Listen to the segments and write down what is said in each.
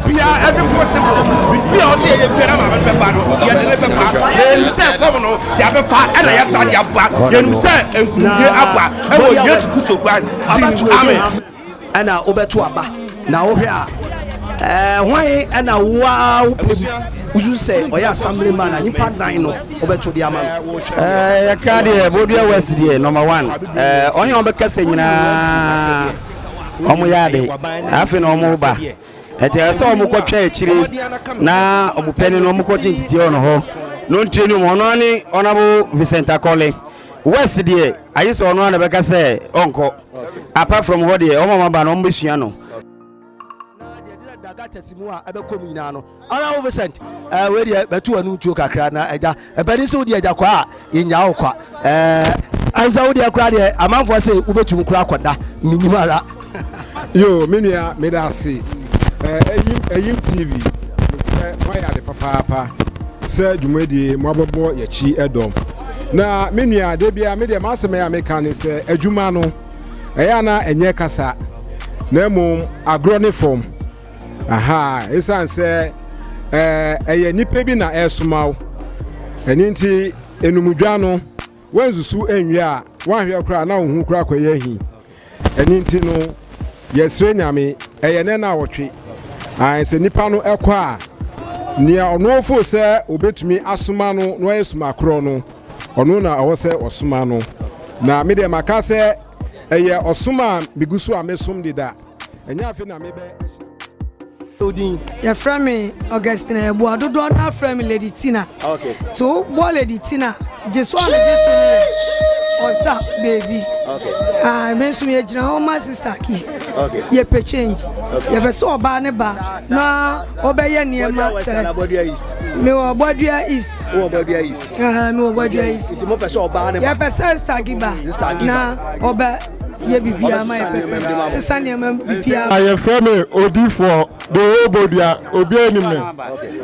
bia ɛde possible biribi a ɔsɛ yɛyɛ biara ma bɛbɛba no yɛde ne bɛba yɛnim sɛ fam no yɛbɛfa ɛna yɛsa de aba yɛnim sɛ nkurumdie aba ɛwɔ yesu kristo christ din amen ɛna wobɛto aba na wohwɛ a eh, hwan ɛna woa wopɛ mu wosu sɛ ɔyɛ assembly man a nipa nan no wobɛto de ama no eh, yɛka deɛ bodua west deɛ number one eh, ɔnyɛ ɔbɛkasa nyinaa wɔn yɛ ade na afei na wɔn ba ɛti ɛyɛ sɛ wɔn kɔ twɛn akyire na wɔn pɛni na wɔn kɔ kye ntete wɔn hɔ n'ontire no mu ɔno ani ɔnabo Vincent Akɔle west deɛ ayi sɛ ɔno ana bɛka sɛ ɔnkɔ apart from hɔ deɛ wɔn a wɔn aba no wɔn bɛsua no. na deɛ ɛde dagakyɛse mu a ɛbɛkɔ mu nyinaa no Ara wo Vincent eh, wei deɛ bɛto w'anum tuo kakra na agya ɛbɛde sɛ wodeɛ agya kwa a yɛnyaa wo kwa eh, ansa wodeɛ koraa deɛ amanfoɔ sɛ wobɛtumi koraa kɔda menim ara yo me nua meda ase ɛyim eh, ɛyim tv nokorɛ moayɛ ade papaapa sɛ dwumadie moabɔbɔ yɛkyi ɛdɔm na me nua da bia medeɛ maasɛm ɛyɛ a meka ne sɛ adwuma no ɛyɛ ana ɛnyɛ kasa na mmom agorɔ ne fam aha ɛsiane sɛ ɛyɛ nnipa bi na ɛresoma wo ɛno nti enumdwa no wansusu nwie a wanhwɛ koraa na wo ho kora kɔyɛ ahi ɛno nti no yɛsrɛ nyame ɛyɛ nɛ na awɔtwe sɛ nnipa no ɛkɔ a nea ɔnoɔfo sɛ obɛtumi asoma no na ɔyɛ soma korɔ no ɔno na ɔwɔ sɛ ɔsoma no na medeɛ maka sɛ ɛyɛ ɔsom a megu so a mesom deda Ɛnyɛ afe na mebɛ ahyira. Odin. Yɛfrɛ me Augustina Yɛboa dodoɔ no afrɛ me Lady Tina. Okay. To bɔ Lady Tina gye so a megye so no yɛ ɔsa baabi. Okay. Ah, me nso yɛgyina hɔ ma sister ki. Okay. Yɛpɛ change. Okay. Yɛpɛ sɛ ɔbaa ne ba na ɔbɛyɛ nneɛma tɛ. Mewɔ Bɔdua East. Wɔ Bɔdua East. Mewɔ Bɔdua East. Yɛpɛ sɛ sister ki ba na ɔbɛ. Yɛ biribiara ma yɛ pɛpɛpɛ. Sesa nneɛma biribiara ma. Yɛfrɛ me odifoɔ, Doo Bodua, obiara nim me.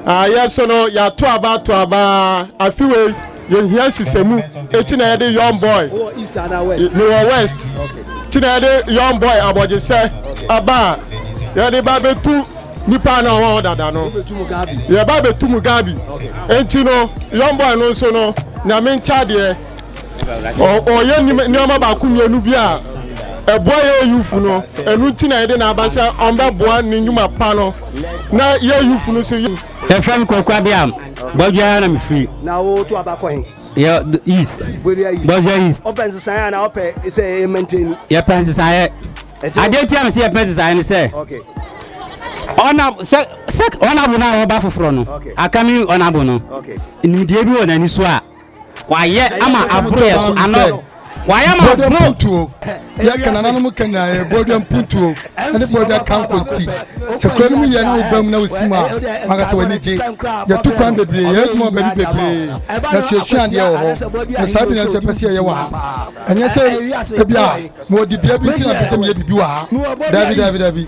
Ah, yɛn so no, yɛato aba ato aba. Afe wei, yɛhia nsisamu, enti na yɛde Young Boy, mewɔ West, enti na yɛde Young Boy abɔgyesɛ aba a yɛde ba bɛtu nnipa a na wɔwɔ hɔ dada no. Yɛba bɛtu mu Gabi. Enti no, Young Boy no nso no, Nyame nkyɛ adeɛ. ɔyɛ nneɛma baako mmienu bi a ɛboa yɛ yufu no ɛnu ti na yɛde n'aba sɛ ɔmbɛboa ne nnwuma pa no na yɛ yufu no so. yɛfrɛ me kɔkɔ abiam bɔdwa ara na mefiri na woto aba kɔ he yɛ east bɔdwa east bɔdwa east ɔpɛ nsesaeɛ a na ɔpɛ sɛ ɛyɛ mantani yɛpɛ nsesaeɛ adeɛ tia me sɛ yɛpɛ nsesaeɛ no sɛ okay ɔna sɛ sɛ ɔnabo no a wɔba foforɔ no aka me ɔnabo no nimdeɛ bi wɔ n'ani so a Wayɛ ama aburo yɛ so ano. Wayɛ ama aburo. Yɛ ka nananom ka nyinaa yɛ bɔɔdua mpuntuo ne bɔɔdua kankonti. Sɛ kura no mu yɛ na wobam na wosi mu a wanka sɛ w'ani gye. Yɛto kwan bebree, yɛ adwuma wɔ baabi bebree na suasua adeɛ wɔ hɔ. Na saa bi na nso yɛpɛ sɛ yɛyɛ wɔ ha. Ɛnyɛ sɛ ebi a mewɔ dibea bi nti na mepɛ sɛ meyɛ biribi wɔ ha. Daabi, daabi, daabi.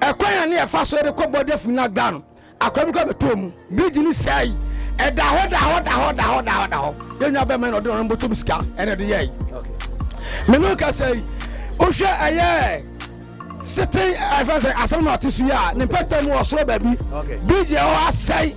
Ɛkwan a ne yɛfa so de kɔ bɔda fi no agbaa no, akora bi kora bɛtɔɔ mu. Birigyi no sɛe. Ɛda hɔ da hɔ da hɔ da hɔ da hɔ da hɔ. Yɛn nua bɛma na ɔde ɔno bɔtɔ mu sika ɛna ɛde yɛe. Me ne kasa yi, wohwɛ ɛyɛ sete ɛfɛ sɛ asɛm na ɔte so yi a ne mpɛtɛ mu ɔsoro baabi birigyi ɛhɔ asɛe.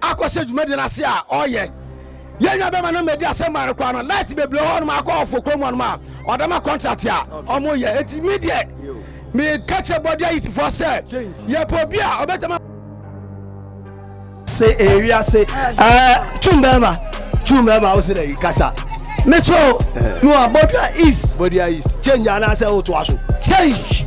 akɔhyɛ dwumadi no ase a ɔyɛ yɛn nua bɛma no mɛdi asɛm ma no koraa no light bebree hɔ nom akɔ ɔfo kurom hɔ nom a ɔda ma contract a ɔmo yɛ eti mi deɛ meka kyerɛ bɔde ayitifoɔ sɛ yɛpɛ obi a ɔbɛtɛma se ewi ase ɛɛ tum bɛɛma tum bɛɛma o se na yi kasa meso mi wa bɔdua east bɔdua east change anaasɛ o to aso change.